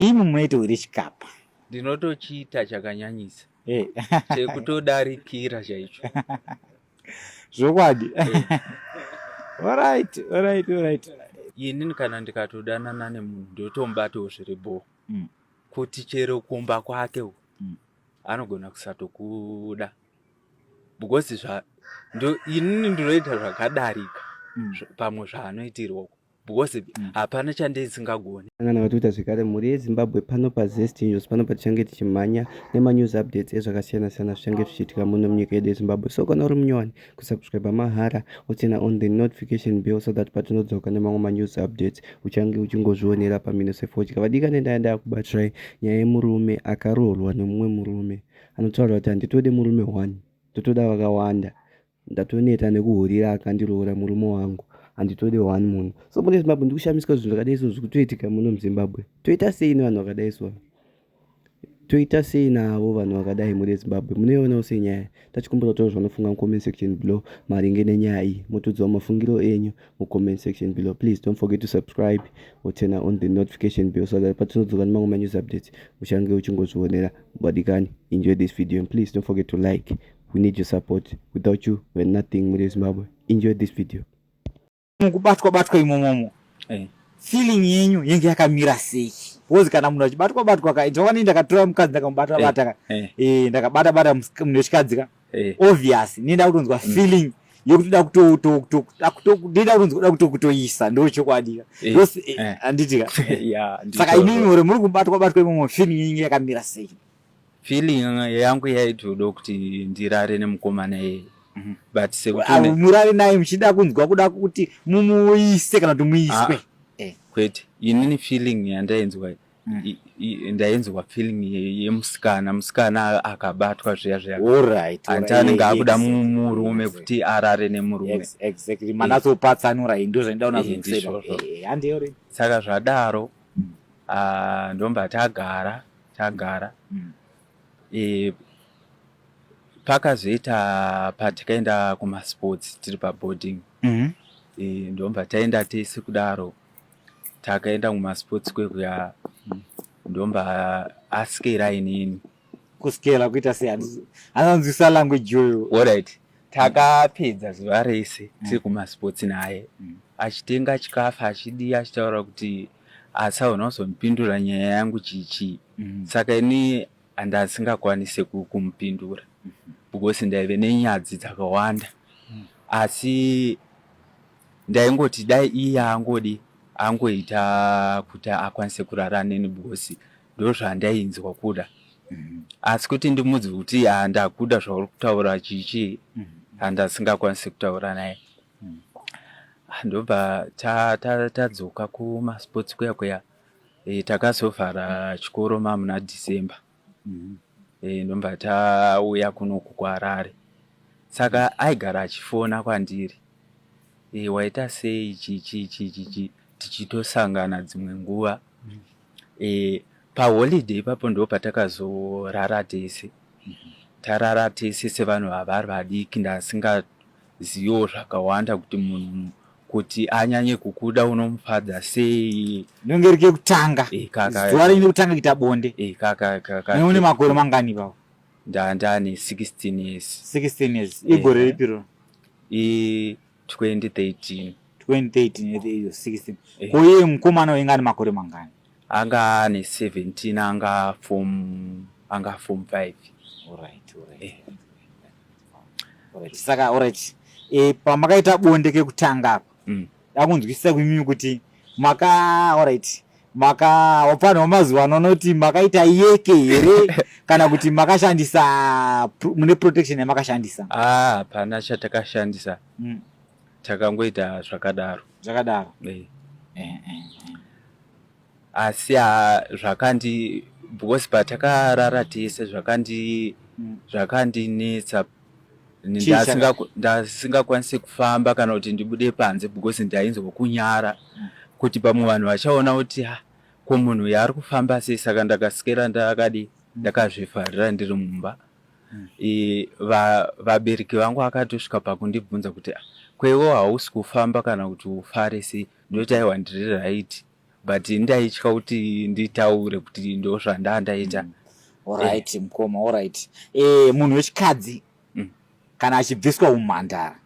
Imi munoita uri chikapa. Ndinotochiita chakanyanyisa. Eh. Chekutodarikira chaicho. Zvokwadi. Eh. All right, all right, all right. Ini kana ndikatodanana nemunhu ndotombatawo zviri bho. Mm. Kuti chero kumba kwake mm. anogona kusatokuda. Because zva ndo ini ndinoita zvakadarika mm. pamwe zvaanoitirwa because mm. hapana chandisingagoni angana vatoita zvekare mhuri yezimbabwe pano pazest news pano patichange tichimhanya nemanews updates ezvakasiyana siyana zvichange zvichiitika muno munyika yedu yezimbabwe so kana uri munyowani kusubscribe mahara utsena on the notification bill so that patinodzoka nemamwe manews updates uchange uchingozvionera pamino sefodya vadikane ndaya ndaya kubatirai nyaya yemurume akaroorwa nemumwe murume anotaura kuti handitode murume one totoda vakawanda Ndatoneta nekuhurira akandiroora murume wangu handitode one munhu so mune zimbabwe ndikushamisika zvinhu zvakadai so zvikutoitika muno muzimbabwe toita sei nevanhu vakadai so toita sei navo vanhu vakadai mune zimbabwe munoionawo senyaya tachikumbira kutaura zvanofunga mucomment section below maringe nenyaya iyi motodzwa mafungiro enyu mucomment section below please don't forget to subscribe or turn on the notification bell so that patinodzoka nemamwe manews updates uchange uchingozvionera mubadikani enjoy this video and please don't forget to like we need your support without you we're nothing muri vezimbabwe enjoy this video mukubatwa batwa imomomo hey. Eh. feeling yenyu yenge yakamira sei bcause kana munhu achibatwa batwa ka ndoka nei ndakatora mukadzi ndakamubata eh, bata ka hey. Eh. hey, ndakabata bata munhu wechikadzi ka hey. obvious nei nda kutonzwa mm. feeling mm yekutoda kutoda kutonzwa kuda kutoisa ndo chokwadi ka eh, eh, eh. anditika saka imimi ore muri kubatwa batwa imomo fini inge yakamira sei feeling yangu yaitoda kuti ndirare nemukomana iyeye mhm. but sekumurare naye muchida kunzwa kuda kuti mumuise kana kuti muiswe ah, eh. kwete inini feeling yandainzwa mm. ndainzwa feeling yemusikana musikana akabatwa zviya zviyaanti anenge akuda murume kuti arare nemurume saka zvadaro mm. ah, ndomba tagara tagara mm. e, pakazoita patakaenda kumasports tiri paboarding mm -hmm. e, ndomba taenda tese kudaro takaenda kumasports kwekuya mm. ndomba askera inini kuskera kuita sei anzwisa language yoyo orit takapedza zuva rese mm. tiri kumasports naye mm. achitenga chikafu achidii achitaura kuti asaona kuzomupindura nyaya yangu chichii mm. saka ini andasingakwanise kumupindura mm-hmm. because ndaive nenyadzi dzakawanda asi ndaingoti dai iye angodi angoita kuti akwanise kurara neni because ndozvandainzwa kuda mhm. asi kuti ndimudzi kuti handakuda zvauri kutaura chichi handasingakwanisi mhm. kutaura naye mhm. ndobva tadzoka kumasports kuya kuya e, takazovhara chikoro mamuna december e, ndobva tauya kunoku kuharare saka aigara achifona kwandiri e, waita sei chichi chichichi tichitosangana dzimwe nguva e, paholiday ipapo ndo patakazorara tese tarara tese sevanhu vavari vadiki ndasingaziviwo zvakawanda kuti munhu kuti anyanye kukuda unomufadza sei nenge rike kutanga e, kaka, zuva rine kutanga kuita bonde e, kaka, kaka, neune makore mangani ipapo ndandane 16 years 16 years igore e, ripiro e, 2013 2013 16 eh. ko iye mukomana wainge ane makore mangani anga ane 17 anga form anga form 5 alright alright eh. alright saka alright eh pamakaita bonde kekutanga apa mm. dakunzwisisa kwimimi kuti maka alright maka wapanhu wamazuva ano unoti makaita yeke here kana kuti makashandisa mune protection yamakashandisa ah, hapana ah, chatakashandisa mm. takangoita zvakadaro zvakadaro eh. Eh, eh, eh. asi ah, zvakandi because patakarara tese zvakandi mm. zvakandinetsa ndasingakwanise kufamba kana kuti ndibude panze because ndainzwa kunyara mm. kuti pamwe vanhu vachaona kuti ah, ko munhu yaari kufamba sei saka ndakasikira ndakadi mm. ndakazvifarira ndiri mumba mm. vabereki vangu akatosvika pakundibvunza kuti ah, kweiwo hausi kufamba kana kuti ufare sei ndoti aiwa ndiri raiti but ndaitya kuti nditaure kuti ndozvanda ndaita mm. orit eh. mukoma orit e, eh, munhu wechikadzi mm. kana achibviswa umhandara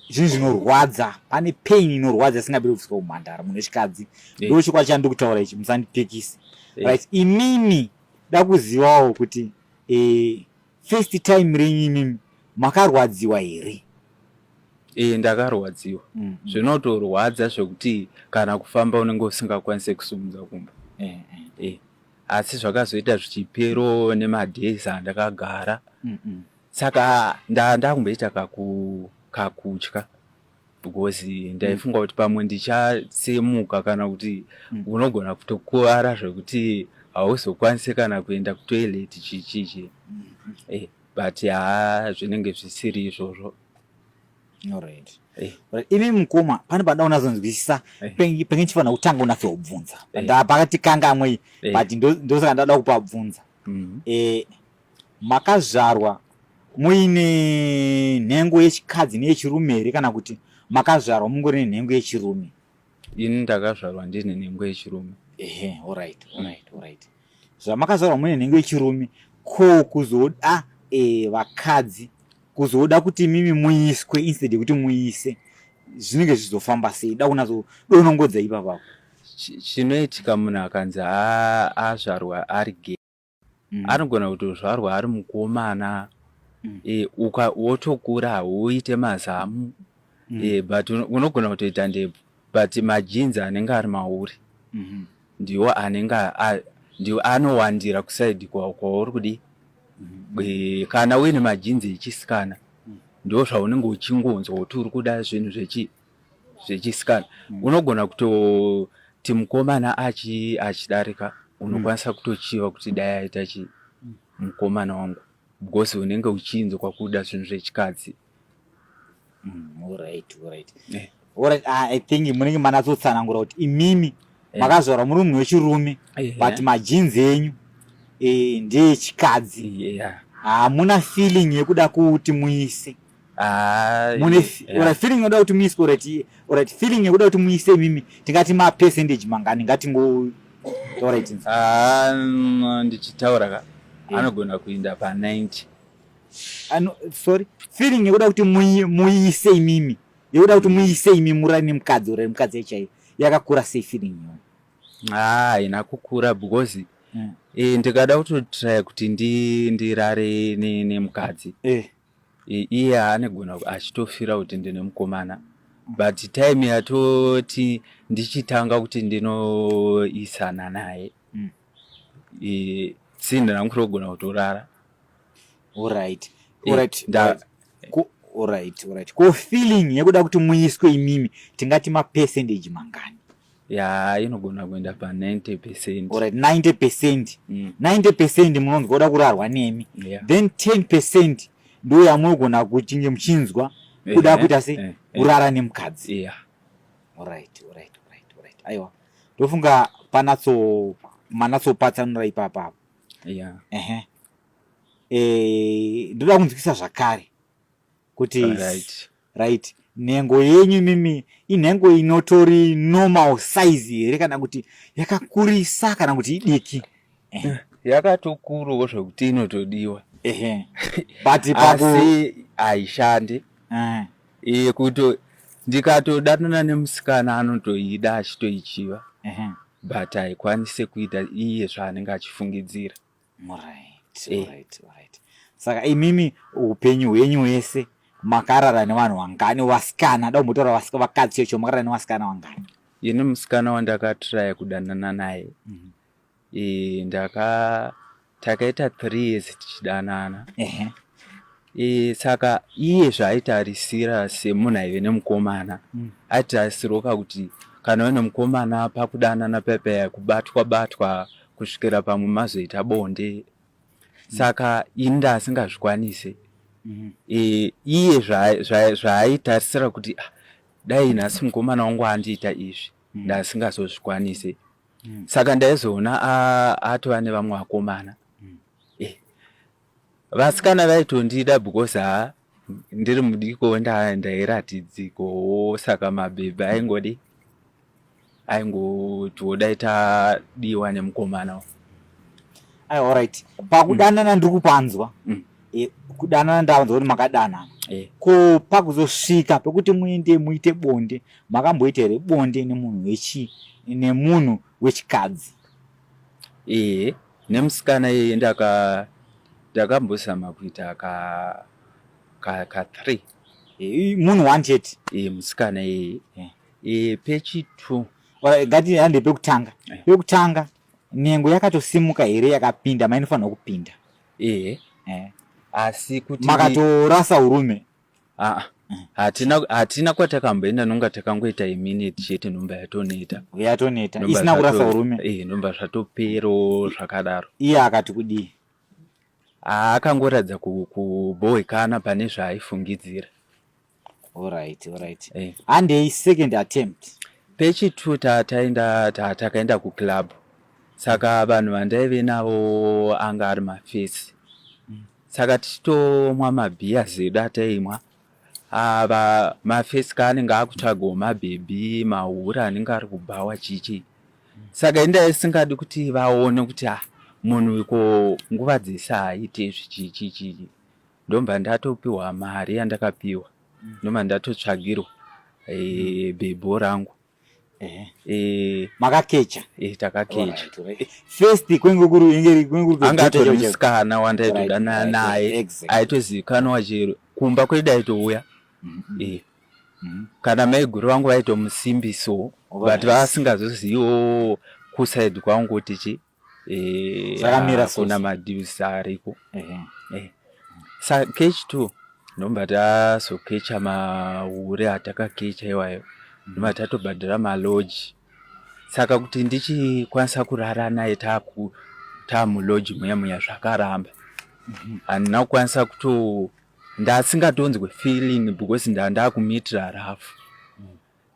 zvinhu zvinorwadza pane pain inorwadza isingabiri kubviswa umhandara munhu wechikadzi eh. ndo chikwadi chandi kutaura ichi musandipikisi right imimi dakuzivawo kuti e, First time renyu imimi makarwadziwa here? Ee ndakarwadziwa mm. zvinotorwadza zvekuti kana kufamba unenge usingakwanise kusimudza kumba e, e, e. asi zvakazoita zvichipero nemadays andakagara mm -mm. saka ndaa ndakumboita kakutya kaku because ndaifunga kuti pamwe ndichatsemuka kana kuti mm. unogona kutokuvara zvekuti hauzokwanise kana kuenda kutoilet chichichi mm. eh, but haa zvinenge zvisiri izvozvo alright eh. imi mukoma pane pada unazonzwisisa eh. penge chifanira kutanga unase kubvunza pakati kanga amwei but ndosaka ndada kupabvunza mm-hmm. makazvarwa muine nhengo yechikadzi neyechirume here kana kuti makazvarwa mungori nenhengo yechirume ini ndakazvarwa ndine nhengo yechirume ehe orit orit orit zvamakazvarwa mune nhengo yechirume ko kuzoda e, vakadzi kuzoda kuti mimi muiswe instead yekuti muise zvinenge zvizofamba sei da kunazodonongodza ipapako chinoitika munhu akanzi azvarwa ari ge mm. anogona kutozvarwa ari mukomana mm. e, uka wotokura hauite mazamu mm. e, but unogona kutoita ndebvu but majinzi anenge ari mauri mm -hmm. ndiwo anenge ndiwo anowandira kusaidi kwauri kudii Eh, kana uine majinzi echisikana mm. ndo zvaunenge uchingonzwa kuti uri kuda zvinhu zvechi zvechisikana mm. unogona kutoti mukomana achi achidarika unokwanisa mm. kutochiva kuti dai aita chi mm. mukomana wangu because unenge uchinzwa kuda zvinhu zvechikadzi mm, alright, alright. Yeah. Alright, ah, i think munenge manatsotsanangura kuti imimi eh. makazvarwa muri munhu wechirume eh, but eh. majinzi enyu ndeyechikadzi hamuna feeling yekuda kuti muise feeling yoda kuti muise orit orit feeling yekuda kuti muise imimi tingati mapercentage mangani ngatingo orit ndichitaura ka anogona kuinda pa 90 ano sorry feeling yekuda kuti muise imimi yekuda kuti muise imi murari nemukadzi urari mukadzi chaiyo yakakura sei feeling iyoyo haa haina kukura because mm. e, ndikada kutotraya kuti ndirare nemukadzi e. iye anegona achitofira kuti ndine mukomana but time yatoti ndichitanga kuti ndinoisana naye mm. sindina kutogona kutorara orit orit orit orit ko feeling yekuda kuti muiswe imimi tingati mapercentage mangani yaa inogona kuenda pa 90 percent Alright, 90 percent Mm. 90 percent munonzwa kuda kurarwa nemi Yeah. then 10 percent ndo yamunogona kuchinge muchinzwa kuda Ehe, kuita se eh, eh. kurara nemukadzi yeah Alright, alright, alright, alright. aiwa ndofunga panatso manatsopatsanura ipapa apo yeah ehe Eh, ndoda kunzwisa zvakare kuti right nhengo yenyu mimi inhengo inotori normal size here kana kuti yakakurisa kana kuti idiki eh. yakatokuruwo zvekuti inotodiwa but asi haishandi eh. iye kuto ndikatodanana nemusikana anotoida achitoichiva but haikwanise kuita iye zvaanenge achifungidzira saka imimi upenyu hwenyu hwese makarara nevanhu vangani vasikana da umbotaura vakadzi chocho makarara nevasikana vangani ini musikana wandakatiraya kudanana naye mm -hmm. ndaka takaita three years tichidanana uh -huh. E, saka iye zvaaitarisira semunhu aive nemukomana mm. aitarisirwoka kuti kana uve nemukomana pakudanana pepe kubatwa batwa kusvikira pamwe mazoita bonde mm. saka ini ndaasingazvikwanise mm. e, iye zvaaitarisira kuti ah, dai nhasi mukomana wangu andiita izvi mm. ndasingazozvikwanise mm. saka ndaizoona atova nevamwe vakomana vasikana vaitondida because ha ndiri mudiko ndairatidzikowo saka mabhebhi aingodi aingotiodai tadiwa nemukomana ai allright pakudanana mm. ndiri kupanzwa mm. e, kudanana ndavanzwa kuti makadanana e. ko pakuzosvika pekuti muende muite bonde makamboita here bonde nemunhu wechi nemunhu wechikadzi Ehe nemusikana yeye ndaka ndakambozama kuita ka ka ka three eh, munhu one chete eh, musikana yeye eh. eh, pechi two gati hande pekutanga eh. pekutanga nhengo yakatosimuka here yakapinda mainofanirwa kupinda ehe eh. asi kuti makatorasa urume aa hatina hatina kwatakamboenda nonga takangoita iminute chete nomba yatoneta yatoneta isina kurasa urume eh nomba zvatopero zvakadaro iye akati kudii akangoratidza kubohwekana pane zvaaifungidzira alright alright eh. and a second attempt pechi two tataenda takaenda kuclub saka vanhu vandaive navo anga ari mafesi saka tichitomwa mabhiya zedu ataimwa ava mafesika anenge akutsvagawo mabhebhi mahura anenge ari kubhawa chichi saka inda isingadi kuti vaone kuti a ah, munhu iko nguva dzese haaite izvi chichi chichi ndomba ndatopiwa mari yandakapiwa ndomba ndatotsvagirwa eh, bhebho rangu Eh, eh, makakecha eh, takakecha eh, first kwenge kuri inge kwenge kuri anga atori musikana wandaitodana naye aitozivikanwa chero kumba kwedu aitouya mm-hmm. eh mm-hmm. kana maiguru vangu vaitomusimbiso but vasingazoziviwo kusaidi kwangu kuti chii eh, zvakamira so na madeals ariko ehe eh sa catch two ndomba taso catch ma hure ataka catch iwayo ndomba tato badira ma lodge saka kuti ndichi kwanisa kurara naye taku ta mu lodge muya muya zvakaramba mhm. and now kwanisa kuto ndasingatonzwe feeling because nda ndakumitira rafu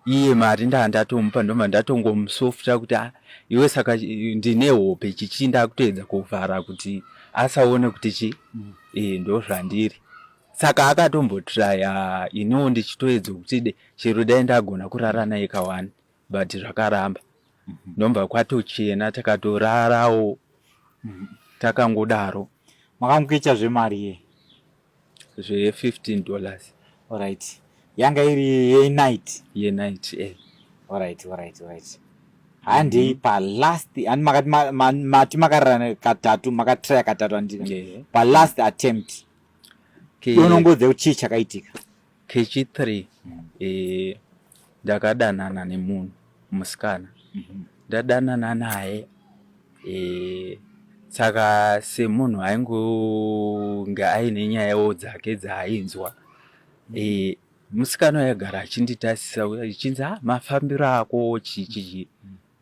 iye mari ndaa ndatomupa ndobva ndatongomusofta kuti ah, iwe saka eh, ndine hope chichi ndakutoedza kuvhara kuti asaone kuti chi mm. e, ndozvandiri saka akatombotraya iniwo ndichitoedza kuti de chero dai ndagona kurara naye kawani but zvakaramba mm -hmm. ndobva kwatochena takatorarawo mm -hmm. takangodaro makangoita zvemari ye zve 15 dollars Alright. Yanga iri yenight. yenight eh. Alright, alright, alright. Handei palast handi makati ma- ma- mati makararana katatu makatraya katatu handika Yeah. palast attempt Okay. donongodze kuti chii chakaitika kechi three eh, ndakadanana nemunhu musikana ndadanana naye eh, saka semunhu aingonge aine nyayawo dzake dzaainzwa eh, musikana waigara achinditasisa uya ichinzi ha mafambiro ako chii chii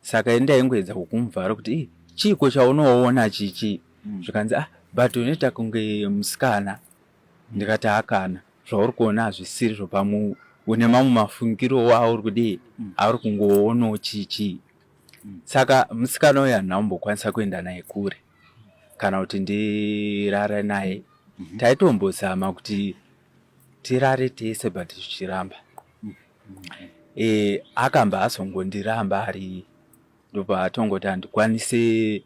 saka ini ndaingoedza kukumuvhara kuti "Ih, chiiko chaunoona chichi zvikanzi ah but unoita kunge musikana ndikati hakana zvauri kuona hazvisiri zvopamu une mamwe mafungiro wauri kudii mm. auri kungoonawo chii chii mm. saka musikana uyo handina kumbokwanisa kuenda naye kure kana kuti ndirare naye mm-hmm. taitombozama kuti tirare tese but zvichiramba mm. e, akamba azongondiramba ari ndopaatongoti handikwanise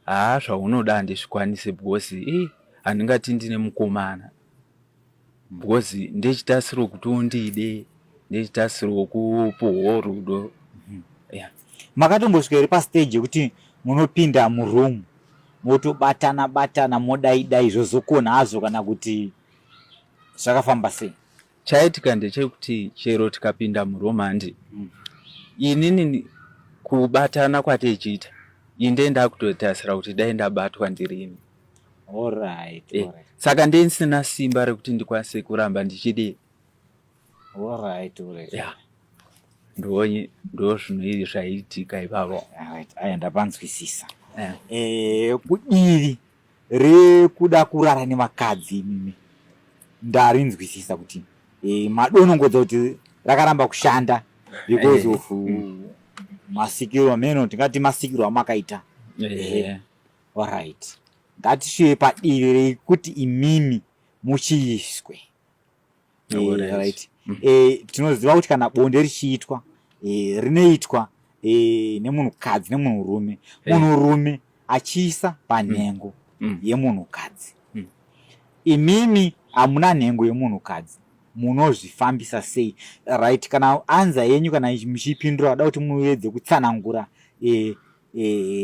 Haa zvaunoda handizvikwanise because ii handingati ndine mukomana because ndechitarisiro kuti undide ndechitarisiro kupuhwo rudo mhm. yeah. makatombosvika here pastage yekuti munopinda muroom motobatana batana modaidai zvozokona hazvo kana kuti zvakafamba sei Chaitika ndechekuti chero tikapinda muromandi mm. inini kubatana kwatichiita inde ndakutotasira kuti dai ndabatwa ndirini Alright, eh, alright. Saka ndisina simba rekuti ndikwanise kuramba ndichidii Alright, alright. Yeah. Ndonyi ndozvinoiri zvaiitika ipavo. Alright, aya ndapanzwisisa. Yeah. Eh, kudiri rekuda kurara nevakadzi imimi ndarinzwisisa kuti e, madonongodza kuti rakaramba kushanda because eh. of mm. masikiro ameno tingati masikiro amakaita eh. orit ngatisviye padivi rekuti imimi muchiiswe right mm. eh, tinoziva kuti kana bonde richiitwa eh, rinoitwa eh, nemunhukadzi nemunhurume eh. munhurume achiisa panhengo mm. mm. yemunhukadzi mm. imimi hamuna nhengo yemunhukadzi munozvifambisa sei right kana anza yenyu kana muchipindura vada kuti muedze kutsanangura eh, eh,